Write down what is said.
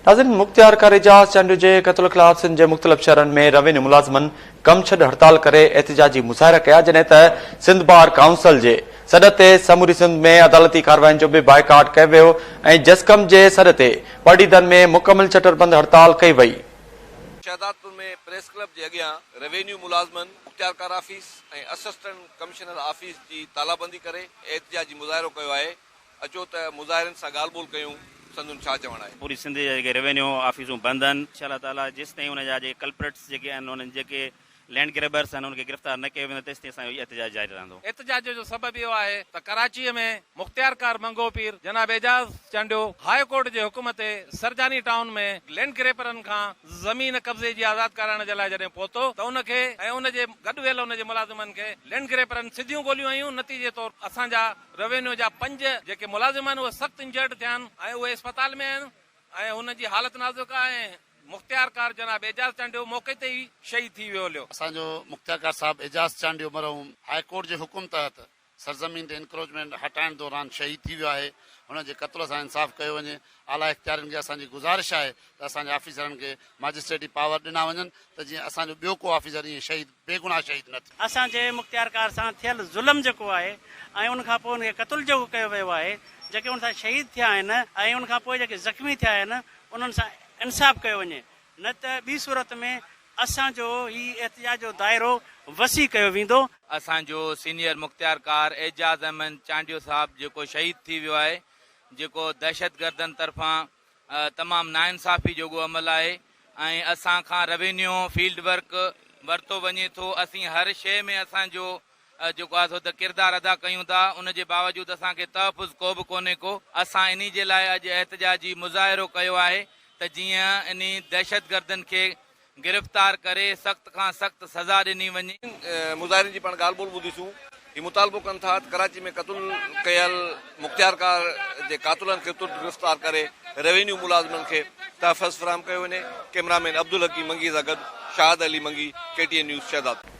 ناظرين مختيار کر اعجاز چانڊيو جي قتل خلاف سنڌ جي مختلف شھرن ۾ روينيو ملازمن ڪم ڇڏ ھڙتال ڪري احتجاجي مظاھرا ڪيا جڏھن ته سنڌ بار ڪائونسل جي سڏ تي سموري سنڌ ۾ عدالتي ڪارواين جو به بائيڪاٽ ڪيو ويو ۽ جسقم جي سڏ تي پرڏيھدن ۾ مڪمل شٽر بند ھڙتال ڪئي وئي. شهدادپور ۾ پريس ڪلب جي اڳيان روينيو ملازمن مختيار کر آفيس ۽ اسسٽنٽ ڪمشنر آفيس جي تالابندي ڪري احتجاجي مظاهرو ڪيو آهي اچو ته مظاهرين سان ڳالهه ٻولهه ڪيون سندن ڇا چوڻ آهي. پوري سنڌ جا جيڪي ريونيو آفيسون بند آهن. انشاء الله تعالٰي جيستائين ان جا جيڪي ڪلپرٽس جيڪي آهن انهن جيڪي لينڊ گريبرس آهن انهن کي گرفتار نه ڪيو ويندو تيستائين اسان جو احتجاج جاري رهندو. احتجاج جو سبب اهو آهي ته ڪراچي ۾ مختيارڪار منگهو پير جناب اعجاز چانڊيو هاء ڪورٽ جي حڪم تي سرجاني ٽائون ۾ لينڊ گريپرن کان زمين قبضي جي آزاد ڪرائڻ جي لاء جڏهن پهتو ته ان کي ۽ ان جي گڏ ويل ان جي ملازمن کي لينڊ گريپرن سڌيون گوليون هنيون نتيجي طور اسان جا روينيو جا پنج جيڪي ملازم آهن اهي سخت انجرڊ ٿيا آهن ۽ اهي اسپتال ۾ آهن ۽ هنن جي حالت نازڪ آهي ۽ مختيارڪار جناب اعجاز چانڊيو موقعي تي ئي شهيد ٿي ويو هليو. اسان جو مختيارڪار صاحب اعجاز چانڊيو مرحوم هاء ڪورٽ جي حڪم تحت سرزمين تي انڪروچمينٽ هٽائڻ دوران شهيد ٿي ويو آهي هن جي قتل سان انصاف ڪيو وڃي اعليٰ اختيارين کي اسان جي گذارش آهي ته اسان جي آفيسرن کي ماجسٽريٽي پاور ڏنا وڃن ته جيئن اسان جو ٻيو ڪو آفيسر ائين شهيد بيگناهه شهيد نه ٿيا. اسان جي مختيار ڪار سان ٿيل ظلم جيڪو آهي ۽ ان کان پوء ان کي قتل جيڪو ڪيو ويو آهي، جيڪي ان سان شهيد ٿيا آهن ۽ ان کان پوء جيڪي زخمي ٿيا آهن انهن سان انصاف ڪيو وڃي نه ته ٻي صورت ۾ اسان جو هي احتجاج جو دائرو وسيع ڪيو ويندو. اسان جو سينيئر مختيار ڪار اعجاز احمد چانڊيو صاحب جيڪو شهيد ٿي ويو آهي، جيڪو دهشتگردن طرفان تمام ناانصافي جوڳو عمل آهي ۽ اسان کان روينيو فيلڊ ورڪ ورتو وڃي ٿو اسين هر شيء ۾ اسان جو جيڪو آهي سو ته ڪردار ادا ڪيون ٿا ان جي باوجود اسان کي تحفظ ڪوبه ڪونهي ڪو اسان انهي جي لاء اڄ احتجاجي مظاهرو ڪيو آهي ته جيئن انهي دهشتگردن کي گرفتار ڪري سخت کان سخت سزا ڏني وڃي. مظاهرين جي پاڻ ڳالهه ٻولهه ٻڌيسون هي مطالبو ڪن ٿا ته ڪراچي ۾ قتل ڪيل مختيار ڪار جي قاتلن کي ترت گرفتار ڪري روينيو ملازمن کي تحفظ فراهم ڪيو وڃي ڪئميرا مين عبدالحڪيم منگي سان گڏ Shahid Ali Mangi K T N news Shahdadpur.